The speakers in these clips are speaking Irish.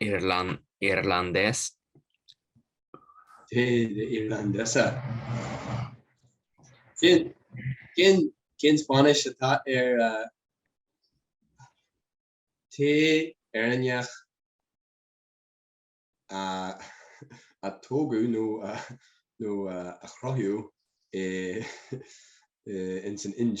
Irlandés. Té de Irlandés. Cén Spáinnis atá ar tae Éireannach a tógadh nó a chruthaíodh insan Ind?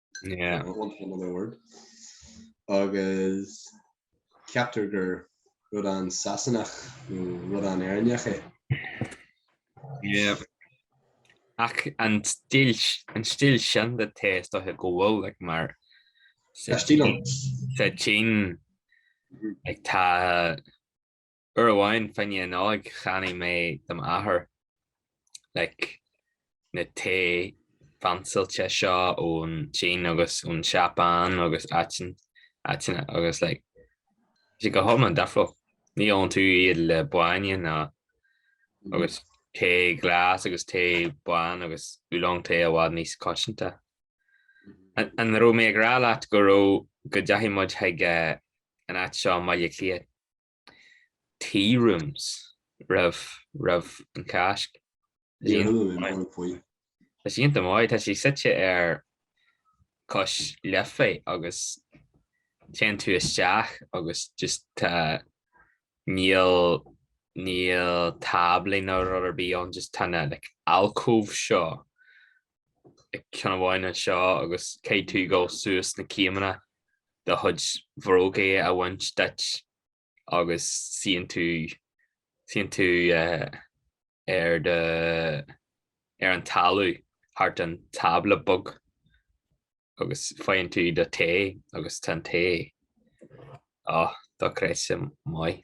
Yeah. An bhuntéacs an ord. Agus ceaptar gur rud an-Sasanach nó rud an-Éireannach é. Yeah. Ach an stíl, an stíl sin de tae is dóiche go bhfuil like, mar sa tSín like tá Uair amháin fá choinne na Nollag cheannaigh mé do m'athair, like, na tae fancyáilte seo ón tSín agus ón tSeapáin agus áitean, áiteanna agus, like, sé go hiomlán difriúil. Ní ólann tú iad le bainne ná agus tae glas agus tae bán agus oolong tae i bhfad níos coitianta. An raibh mé ag rá leat go raibh go dteachaidh muid chuig an áit seo i mBaile Átha Cliath? Tea rooms roimh roimh an Cháisc. Tá sí iontach maith, tá sí suite ar cois Life agus téann tú isteach agus just tá níl níl táblaí ná rud ar bith ann just tá na like alcove seo ceann amháin anseo agus caithfidh tú dhul suas sna céimeanna do chuid bhrógaí a bhaint duit agus suíonn tú suíonn tú ar do ar an talamh thart an tábla beag agus faigheann tú do tae agus tá an tae á dochreidte maith.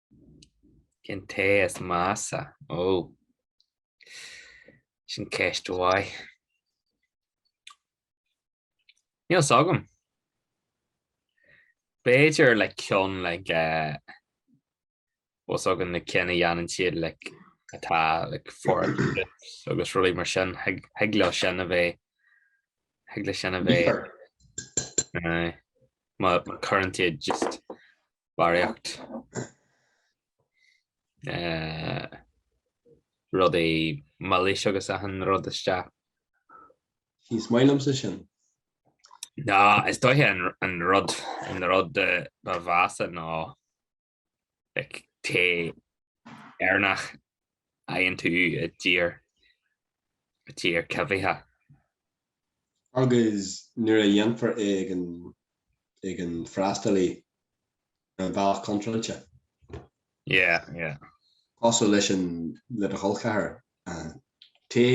Cén tae is measa? Ó. Sin ceist mhaith. Níl fhios agam. B'fhéidir like cionn like fhios agat na cinn a dhéanann siad like atá like fuar agus rudaí mar sin. Thig leo sin a bheith thig leo sin a bheith mar cuireann siad just. barraíocht, rudaí milis agus achan rud isteach. Ní maith liomsa sin. Nó, is dóiche an rud an rud ba mheasa ná like tae Éireannach fhaigheann tú i dtír, i dtír coimhthíoch. Agus nuair a dhéanfar é ag an, ag an freastalaí, ar an bhealach contráilte. Yeah, yeah. Cosúil leis an, le do cholcheathar, Té,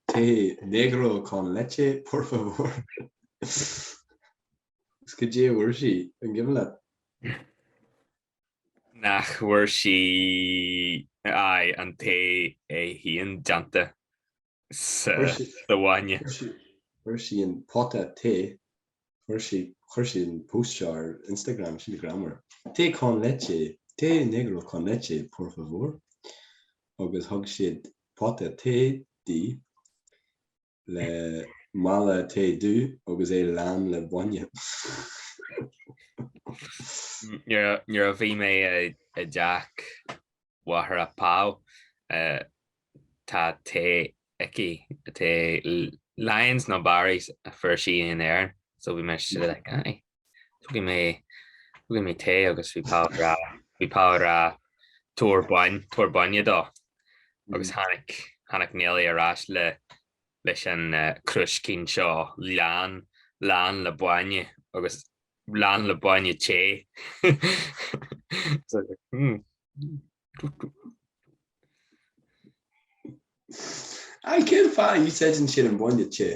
té negro con leche, por favor? Is cad é a fuair sí, an cuimhin leat? nach bhfuair sí aye, an tae é féin déanta sa bhainne. Chuir sí an pota tae, chuir sí, chuir sí an post seo ar Instagram, sí ag rá mar, té con leche, té negro con leche por favor, agus thug siad pota tae di. le mála tae dubh agus é lán le bainne. Nuair a bhí mé i dteach mháthair Pau eh, tá tae aici tae Lyons nó Barry's a fuair sí in Éirinn so bhí mise like Tógfaidh mé, tógfaidh mé tae agus bhí Pau ag rá, bhí Pau ag rá tabhair bain, tabhair bainne dó. Agus tháinig, tháinig Nelly ar ais le, leis an crúiscín seo lán, lán le bainne agus lán le bainne te. Aye, cén fáth a n-úsáideann siad an bainne te?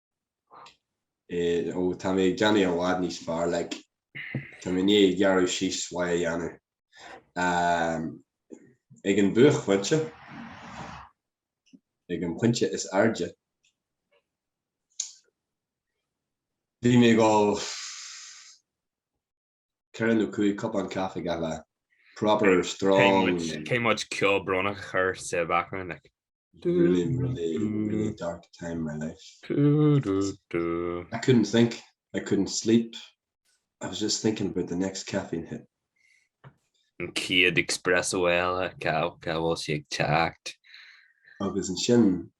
eh, oh, tá mé ag déanamh i bhfad níos fearr, like, tá mé i ndiaidh gearradh síos maith a dhéanamh. Um, ag an buaicphointe, ag an pointe is airde, bhí mé ag ól 4 nó 5 cupán caife gach lá. Proper strong. Caithfidh muid ceol brónach a chur sa bhackground like. Really really really dark time in my life. I couldn't think, I couldn't sleep, I was just thinking about the next caffeine hit. An chéad espresso eile, cá bhfuil sí ag teacht? Agus ansin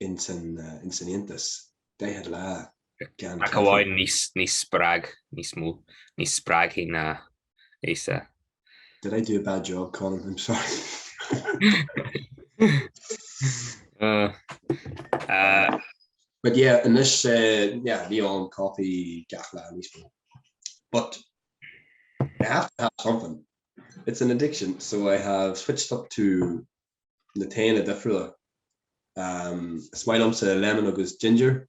ins an fhiántas, daichead lá. Ach amháin níos spreag, níos mó, níos spreagthaí ná Íosa. Did I do a bad job, Colm? I'm sorry. But yeah, anois, yeah, níl aon coffee gach lá níos mó. But I have to have something. It's an addiction, so I have switched up to na taenna difriúla. Is maith liomsa Lemon agus Ginger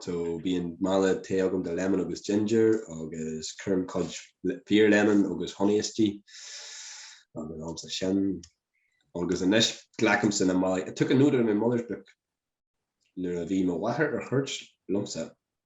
so bíonn mála tae agam de Lemon agus Ginger agus cuirim cuid Fíor Lemon agus Honey istigh agus ólaimsa sin. Agus anois glacaimsa na málaí I took a note out of my mother's book nuair a bhí mo mháthair ar chuairt liomsa.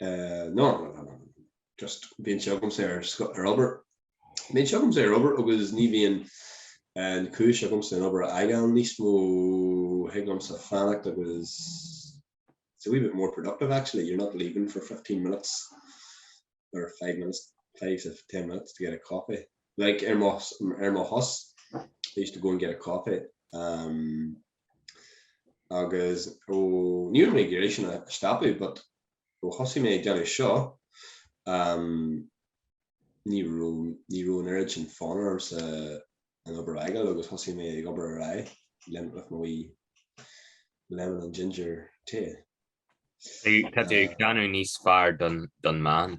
no, just bíonn sé agamsa ar obair. Bíonn sé agamsa ar obair agus ní bhíonn an chúis agamsa an obair a fhágáil níos mó, thig liomsa fanacht agus it's a wee bit more productive actually, you're not leaving for fifteen minutes or five minutes, five to ten minutes to get a coffee. Like ar mo shos, I used to go and get a coffee. Agus ó, ní raibh mé ag iarraidh sin a stopadh but ó thosaigh mé ag déanamh seo, em, ní raibh, ní raibh an oiread sin fonn ormsa an obair a fhágáil agus thosaigh mé ag obair ar aghaidh le, with mo wee lemon and ginger tae. Tá tú ag déanamh níos fearr don, don mbean.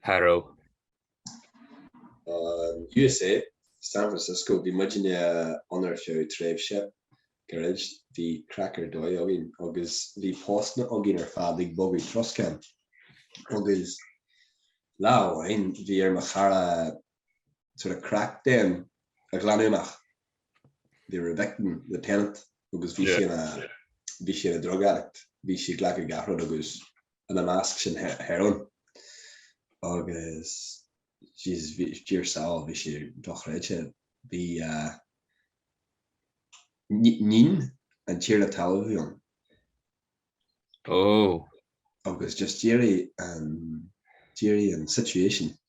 Harrow. USA, San Francisco, bhí muidinne ann ar feadh tréimhse gairid. Bhí craic ar dóigh againn agus bhí postanna againn ar fad ag bogadh troscáin. Agus lá amháin bhí ar mo chara sort of crack den a ghlanadh amach. They were evicting the tenant agus bhí sé ina bhí sé ina drug addict. Bhí sí ag glacadh gach rud agus ina measc sin heroin agus jeez Dia ár sábháil bhí sé dochreidte bhí uh, níon an tiarna talaimh ann oh. agus just d'éirigh an d'éirigh an situation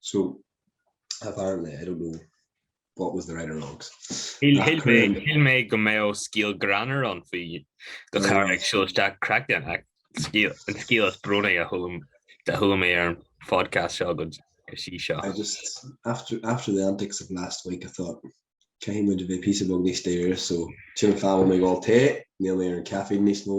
So, apparently, I don't know what was the right or wrong. Shíl mé go mbeadh scéal greannmhar ann faoi do chara ag siúl isteach crack den ach an scéal is brónaí a chuala mé ar an phodcast seo go dtí seo. I just, after the antics of last week I thought caithfidh muid a bheith píosa beag níos dáiríre so sin an fáth a bhfuil mé ag ól tae, níl mé ar an caffeine níos mó,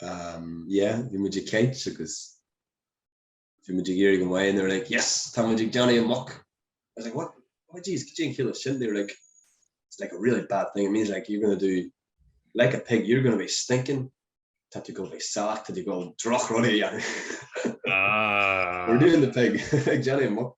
yeah, bhí muid ag caint agus bhí muid ag iarraidh an mhaith, they were like, yes, tá muid ag déanamh an muc. I was like, what? what jeez, cad é an chiall le sin, they were like, it's like a really bad thing, it means like you're going to do like a pig, you're going to be stinking, tá tú ag gabháil a bheith salach, tá tú ag gabháil droch-rud a dhéanamh, we're doing the pig, ag déanamh an muc.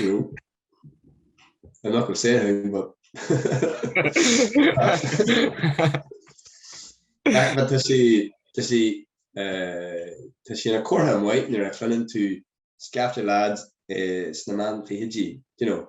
you know, I'm not going to say anything, but but tá sí tá sí eh, tá sí ina comhartha maith nuair a chluineann tú scaifte lads eh, sna meán fichidí, you know,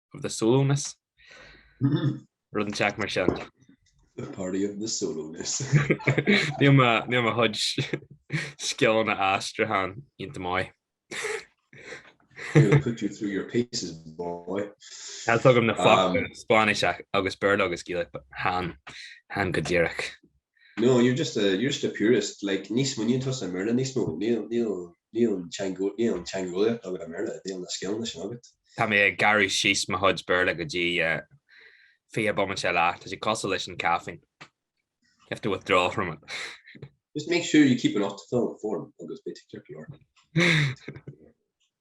of the Solúnais, rud an teacht mar sin. The party of the Solúnais. Níl mo, níl mo chuid scileanna aistriúcháin iontach maith. We'll put you through your paces, boy. Tá, tugaim na focail Spáinnis agus Béarla agus Gaeilge chan, chan go díreach. No, you're just a, you're just a purist, like, ní smaoiníonn tú i mBéarla níos mó, níl, níl, níl an teangeolaíocht, níl an teangeolaíocht agat i mBéarla, níl na scileanna sin agat. Tá mé ag gearradh síos mo chuid Béarla go dtí uh, fiche bomaite eile. Tá sé cosúil leis an caffeine. You have to withdraw from it. Just make sure you keep an optical form agus bit circular.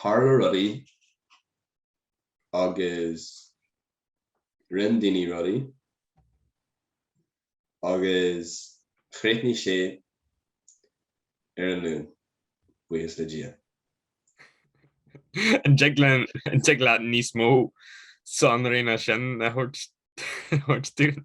tharla rudaí agus rinne daoine rudaí agus chríochnaigh sé ar an Luan, buíochas le Dia. An dtig leat níos mó sonraí ná sin a thabhairt dúinn?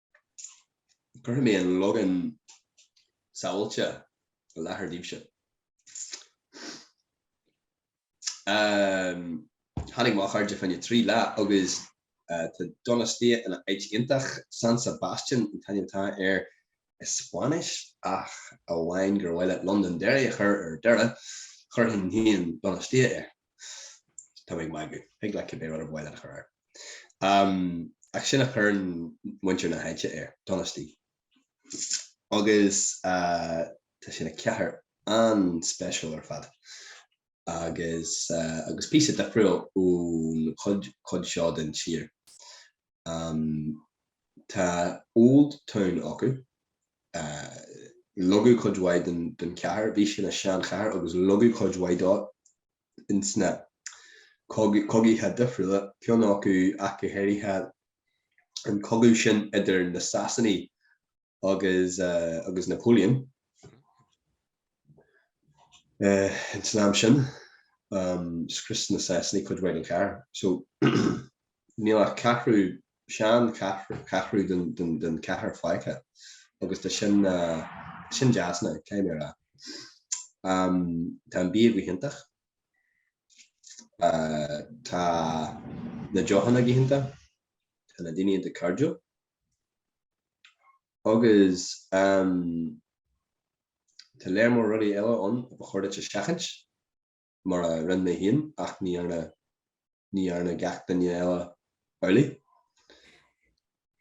Cuirfidh mé an logainm sábháilte i láthair daoibhse. Tháinig mo chairde fá choinne trí lá agus tá Donostia ina áit iontach. San Sebastian an t-ainm atá air i Spáinnis ach amháin gur mhaith leat Londonderry a chur ar Doire, chuirfinn féin Donostia. Tá mé ag magadh. Thig leat cibé rud ba mhaith leat a chur air. Ach sin a chuireann muintir na háite air, Donosti. Agus tá sé ina chathair an-speisiúil ar fad. Agus píosa difriúil ón chuid seo den tír. Tá Old Town acu. Leagadh cuid mhaith den chathair. Bhí sé ina seanchathair agus leagadh cuid mhaith de in sna cogaithe difriúla, ceann acu ach go háirithe, an cogadh sin idir na Sasanaigh, agus Napoleon in san am sin. Scrios na Sasanaigh cuid mhaith den chathair so níl ach ceathrú, sean cheathrú den chathair fágtha agus tá sin, tá sin deas now, caithfidh mé a rá. Tá an bia go hiontach, tá na deochanna go hiontach, tá na daoine iontach cairdiúil. Agus tá lear mór rudaí eile ann a ba chóir duit a sheachaint, mar a rinne mé féin, ach ní dhearna, ní dhearna gach duine eile amhlaidh.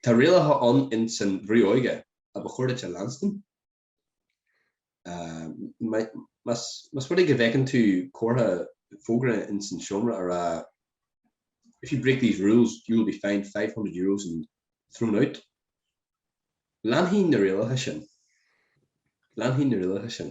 Tá rialacha ann in san Bhrú Óige a ba chóir duit a leanstan. Más rud é go bhfeiceann tú comhartha, fógra ins an seomra a rá If you break these rules, you will be fined five hundred euros and thrown out, leanfainn na rialacha sin. Leanfainn na rialacha sin.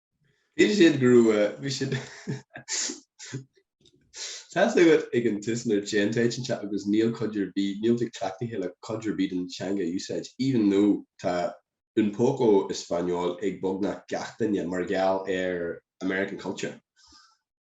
Bhí siad go raibh bhí siad Tá a fhios agat ag an tús nuair a dtéann tú áit inteacht agus níl tú cleachtaithe le cuid ar bith den teanga a úsáid even though tá un poco español ag beagnach gach duine mar gheall ar American culture.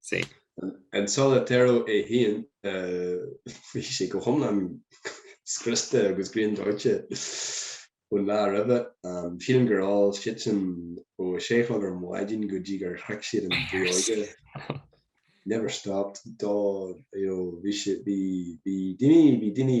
sí. An Solitero é féin, bhí sé go hiomlán scriosta agus griandóite ón lá roimhe. Sílim gur ól seisean ó a sé a chlog ar maidin go dtí gur shroich siad an bhfuinneoige. Never stopped d'you know bhí daoine bhí daoine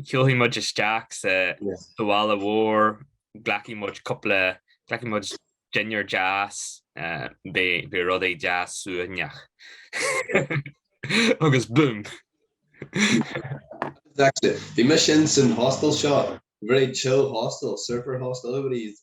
Siúlfaidh muid isteach sa bhaile mhór, glacfaidh muid cúpla, glacfaidh muid dinnéar deas, beidh rudaí deas suaimhneach. Agus búm! Bhí mise insan hostel seo, very chill hostel, surfer hostel, everybody is.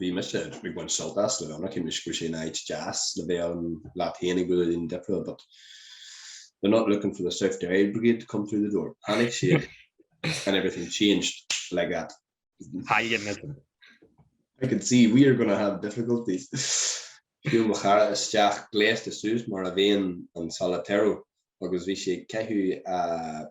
bhí mise ag baint sult as le bheith ann, cheannaigh sé an áit deas le bheith ann leat féin ag dul ar líne difriúil but they're not looking for the South Derry Brigade to come through the door. Tháinig siad and everything changed like that. I can see we are going to have difficulties. Shiúil mo chara isteach gléasta suas mar a bhíonn an Solitero agus bhí sé ag caitheamh a.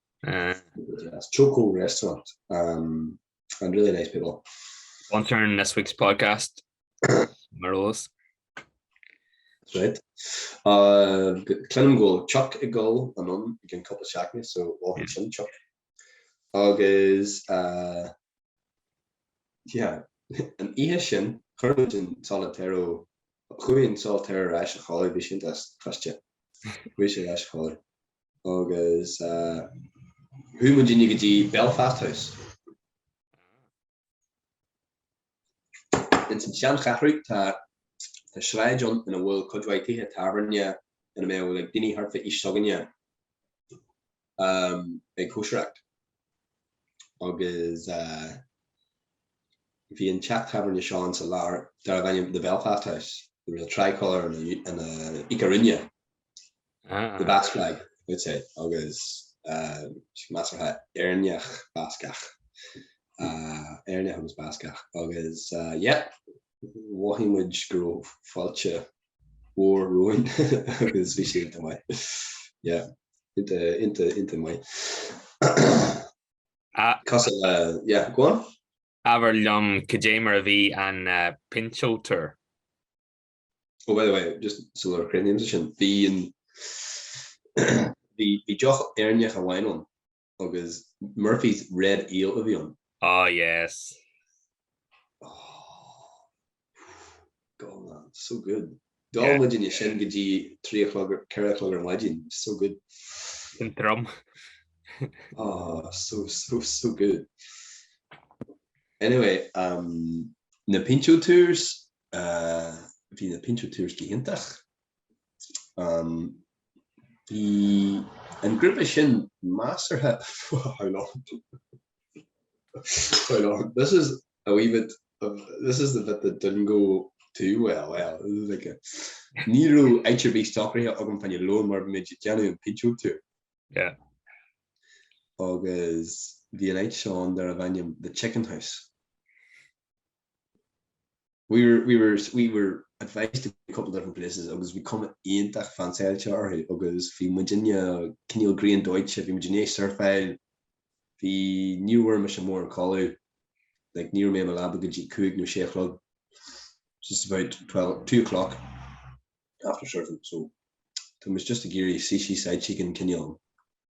As Choco Restaurant and really nice people. Sponsoring this week's podcast marvellous. That's right. Cluinim go bhfuil Chuck ag dul anonn i gceann cúpla seachtaine so mhothaigh sin Chuck. Agus yeah an oíche sin chuir muid an Solitero, chuaigh an Solitero ar ais a chodladh, bhí sé iontach scriosta, chuaigh sé ar ais a chodladh. Agus chuaigh muidne go dtí Belfast House. Ins an seancheathrú tá sráid ann ina bhfuil cuid mhaith tithe tábhairne ina mbeadh like, daoine thart fá aois s'againne um, ag cóisireacht. Agus uh, bhí an teach tábhairne seo ann sa lár darbh ainm The Belfast House, the real tricolour and the, and the ikurriña. The Basque Flag, dúirt sé, agus measartha Éireannach Bascach, Éireannach agus Bascach, agus yeah, mhothaigh muid go raibh fáilte mhór romhainn agus bhí sé iontach maith, yeah, iontach, iontach maith. Agus eile, yeah, go on. Abair liom cad é mar a bhí an pintxo tour? Oh by the way, just so that cuimhnímse air sin, bhí an bhí bhí deoch Éireannach amháin ann agus Murphy's Red Ale a bhí ann. Ah yes. God man, so good. D'fhan muid ansin go dtí trí a chlog, ceithre a chlog ar maidin, so good. An trom. Ah so so so good. Anyway, na pintxo tours, Bhí na pintxo tours go hiontach. Bhí an grúpa sin measartha how long how long this is a wee bit of this is the bit that didn't go too well well like ní raibh áit ar bith socraithe agam fá choinne lóin mar bhí muid ag déanamh an pintxo tour agus bhí an áit ann darbh ainm The Chicken House. We were, we were, we were advised to go a couple different places agus bhí cuma iontach fansáilte orthu agus bhí muidinne cineál griandóite, bhí muid i ndiaidh surfáil, bhí, ní bhfuair mise mórán codladh, like ní raibh mé i mo leaba go dtí cúig nó sé a chlog, just about twelve, two o'clock after surfing, so it was just ag iarraidh sushi, side chicken, cineál.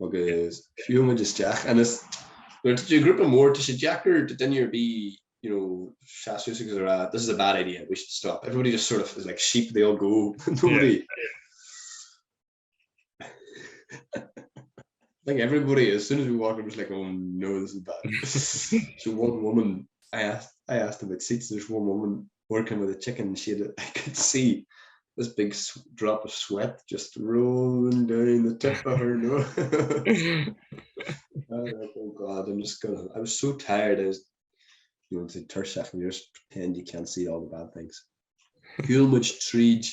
Agus fiú muid isteach ionas nuair atá tú grúpa mór tá sé deacair do duine ar bith you know seas suas agus a rá this is a bad idea, we should stop, everybody just sort of is like sheep, they all go nobody I think everybody as soon as we walk in was like oh no this is bad so one woman I asked I asked about seats there's one woman working with a chicken and she had I could see this big drop of sweat just rolling down the tip of her nose like, oh god I'm just gonna I was so tired I was you know to tur second years pretend you can't see all the bad things Human treat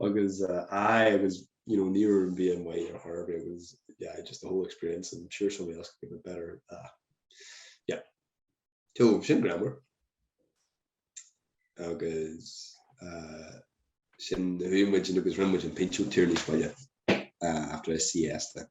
Agus aye agus you know ní raibh an bia an mhaith ar chor ar bith agus yeah just the whole experience and I'm sure somebody else could give a better ah yeah so sin greamair agus ah sin rinne muid agus rinne muid an pinsean tiarnaí scoile ah after SCS like.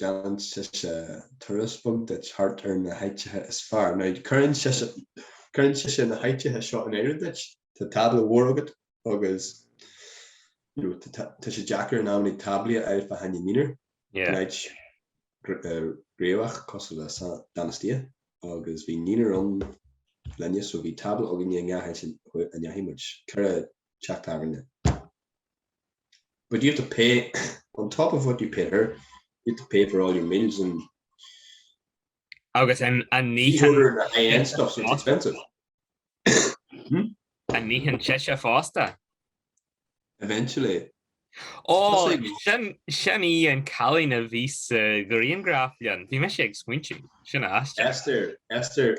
déanann sise turas beag duit thart ar na háiteacha is fearr, nó cuireann sise na háiteacha seo in áirithe duit, tá tábla mhór agat agus tá sé deacair in amannaí táblaí a fháil fá choinne naonúir, in áit gnoitheach cosúil le Donostia, agus bhí naonúr ann linne so bhí tábla againne i ngach áit a ndeachaigh muid, ceithre teach tábhairne. But you have to pay on top of what you paid her, you had to pay for all your meals and Agus an itheann an itheann sise fosta? Eventually. Ó, sin í an cailín a bhí sa ghriangraf liom. Bhí mise ag smaointiú, sin í Esther. Esther, Esther,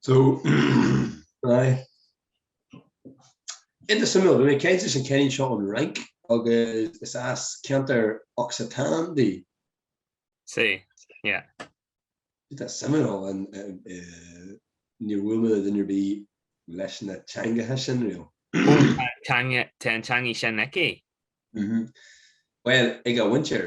So, aye. Iontach suimiúil, bhí mé ag caint leis an cailín seo ón Fhrainc agus is as ceantar Occitan di. Sea, yeah. Tá sé suimiúil, níor bhuail mé le duine ar bith leis na teangacha sin riamh. Tá an teanga, tá an teangaidh sin aici. Aye. Bhuel, ag a mhuintir,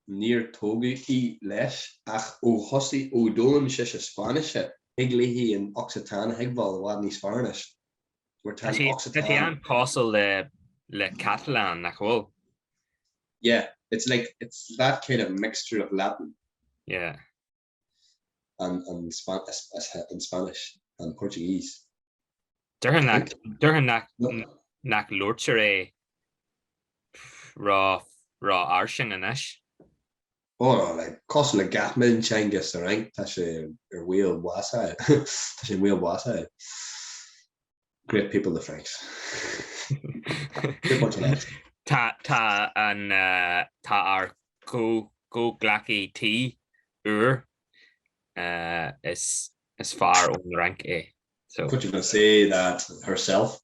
níor tógadh í, leis, ach ó thosaigh ó d'fhoghlaim sise Spáinnise, thig léithi an Occitan a thuigbheáil i bhfad níos fearr anois, mar tá an Occitan. Tá sé an-chosúil le, le Catalan, nach bhfuil? Yeah, it's like, it's that kind of mixture of Latin. Yeah. and Spanish, and Portuguese. Déarfainn nach labhartar é ró fhairsing anois. Ó, cosúil le gach mionteanga sa Fhrainc, tá sé ar bhaol báis a fháil. Great people the Franks. Tá ár gcomhghleacaí tí úr, is fear ón Fhrainc é. What do you want to say that herself,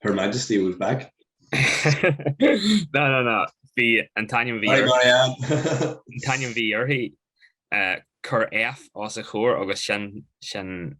Her Majesty was back? Ná ná ná, bhí an t-ainm a bhí uirthi. Sorry Marianne. An t-ainm a bhí uirthi, cuir F os a chomhair agus sin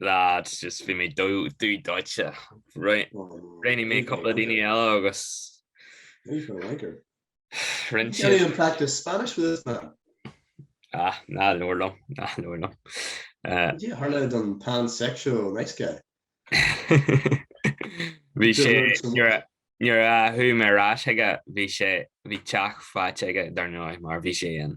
lads just bhí mé dubh dóite roghnaigh mé cúpla daoine eile agus You can't even practice Spanish with this man Ah ná nóir lom ná nóir lom Tharla an pansexual nice guy Bhí sé Nuair a chuaigh mé ar ais aige bhí sé bhí teach faighte aige dar ndóigh mar bhí sé an.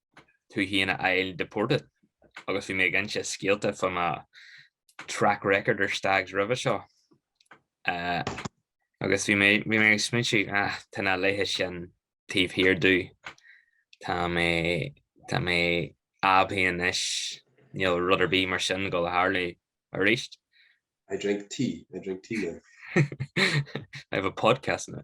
tú féin a fháil deported agus bhí mé ag inse scéalta faoi mo track record ar Stags roimhe seo agus bhí mé bhí mé ag smaointiú ah tá na laethe sin taobh thiar domh, tá mé tá mé aibí anois, níl rud ar bith mar sin ag dul a tharlú arís. I drink tea, I drink tea now. I have a podcast now.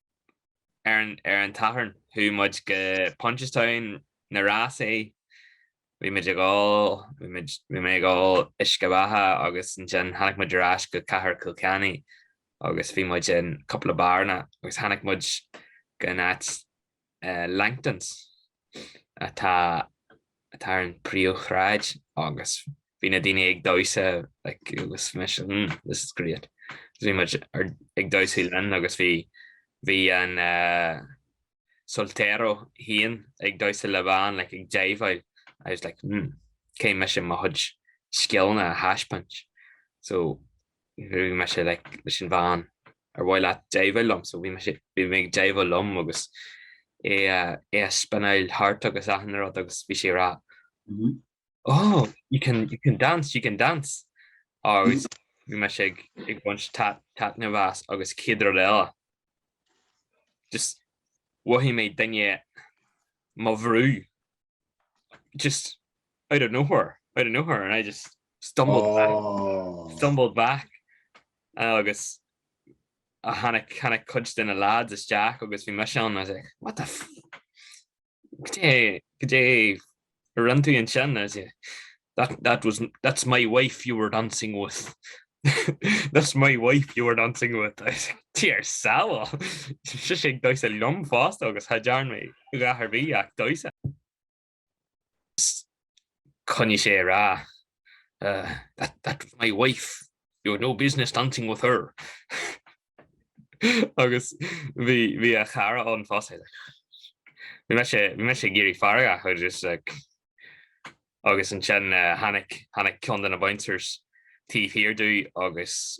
Ar an tSatharn chuaigh muid go Punchestown na rásaí. Bhí muid ag ól, bhí mé ag ól uisce beatha agus ansin tháinig muid ar ais go Cathair Chill Chainnigh agus bhí muid in cúpla beáranna agus tháinig muid go an áit Langtons atá ar an príomhshráid agus bhí na daoine ag damhsa like agus mise hmm this is great agus bhí muid ag damhsa linn agus bhí bhí an eh soltero féin ag damhsa le bean like ag jiveáil I was like hmm caithfidh mise mo chuid scileanna a thaispeáint so bhí mise like leis an bhean Ar mhaith leat jiveáil liom? So bhí mise, bhí mé ag jiveáil liom agus í a, í a spinneáil thart agus achan rud agus bhí sí ag rá Oh, you can, you can dance, you can dance. Agus bhí mise ag, ag baint tait, taitneamh as agus céad rud eile, just mhothaigh mé duine mo bhrú just out of nowhere, out of nowhere and I just stumbled back, stumbled back. agus tháinig tháinig cuid de na lads isteach agus bhí mise ann agus like what the f cad é cad é a rinn tú ansin agus yeah that that was that's my wife you were dancing with that's my wife you were dancing with I was like Dia ár sábháil! Sise ag damhsa liom fosta agus cha dearna mé a dhath ar bith ach damhsa. Is coinnigh sé a rá, That, that was my wife, you had no business dancing with her. Agus bhí, bhí a chara ann fosta. Bhí mise, bhí mise ag éirí feargach just like, agus ansin tháinig, tháinig ceann de na bouncers taobh thiar domh agus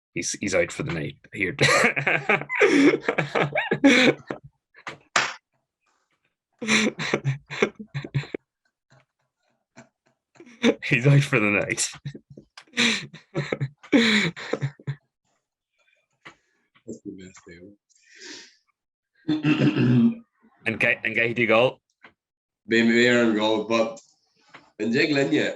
he's he's out for the night here he's out for the night and get and get you go maybe there and go but and jig linne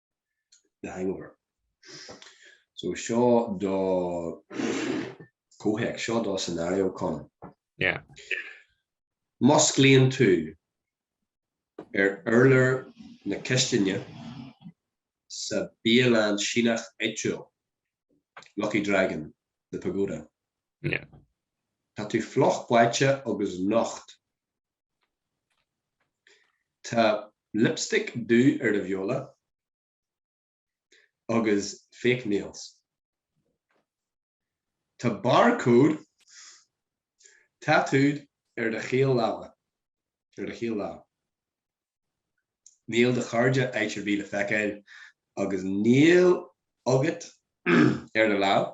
The Hangover. So seo do comhthéacs, seo do scenario, Con. Yeah. Musclaíonn tú ar urlár na cistine sa bialann Síneach áitiúil, Lucky Dragon, The Pagoda. Yeah. Tá tú fliuch báite agus nocht Tá lipstick dubh ar do bheola agus fake nails. Tá barcode tattooed ar do chaol láimhe, ar do chaol lámh. Níl do chairde áit ar bith le feiceáil agus níl agat ar do lámh.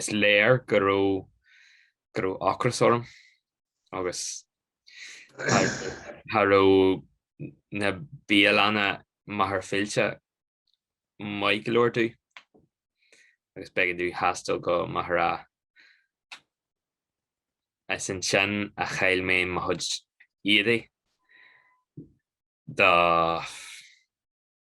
Is léir go raibh go raibh ocras orm agus cha raibh na bialanna i Machaire Fíolta maith go leor domh agus b'éigean domh taisteal go Maghera. Is ansin a chaill mé mo chuid éadaigh do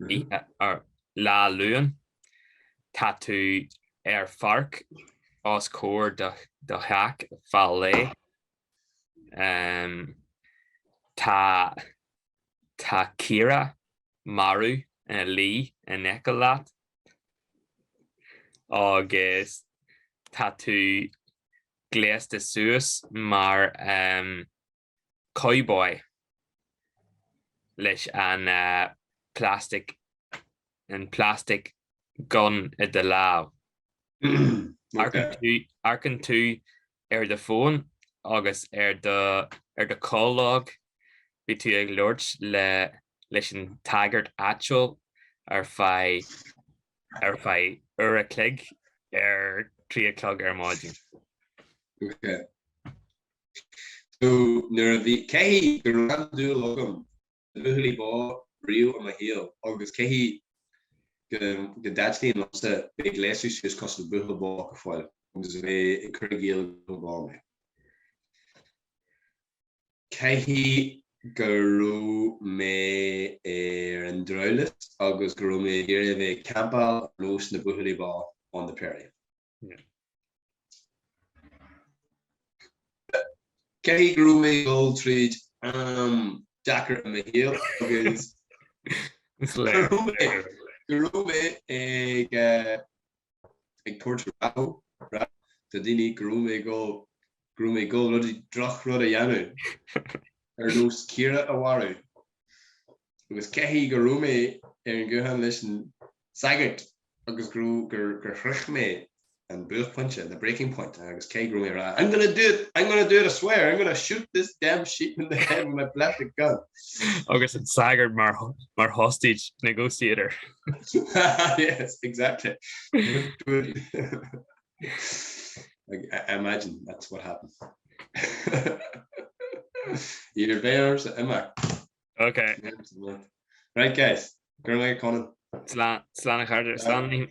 Rí. Ar Lá Luain tá tú ar pháirc os comhair do theach fá lé. Tá caora marbh ina luí in aice leat agus tá tú gléasta suas mar. cowboy leis an plastic an plastic gun i do lámh. Amharcann tú ar do fón agus ar do ar do call log bhí tú ag labhairt le leis an tsagart áitiúil ar feadh ar feadh uair a chloig ar trí a chlog ar maidin. So, nuair a bhí, caithfidh go raibh an dúil agam i mbuachaillí bó riamh i mo shaol agus caithfidh go, go dtaitníonn liomsa bheith ag gléasadh suas cosúil le buachaill bó go fóill agus bheith ag cur i gcéill gurb ea mé. Caithfidh go raibh mé ar an drabhlás agus go raibh mé ag iarraidh a bheith ag campáil ar nós na buachaillí bó on the prairie. Caithfidh go raibh mé ag dul tríd am deacair i mo shaol agus go raibh mé ag eh, ag tabhairt rabhadh do dhaoine go raibh mé ag dul go raibh mé ag dul droch rud a dhéanamh ar nós Ciara a mharú. agus caithfidh go raibh mé ar an ghuthán leis an sagart agus go raibh, gur, gur shroich mé an buaicphointe, the breaking point, agus caithfidh go raibh mé ag rá, I'm gonna do it, I'm gonna do it, I swear, I'm gonna shoot this damn sheep in the head with my plastic gun. agus an sagart mar, mar hostage negotiator. yes, exactly. I imagine that's what happened. Either way, ar aon nós. Ok. Right guys, go away Conan. Slán a chairde slán.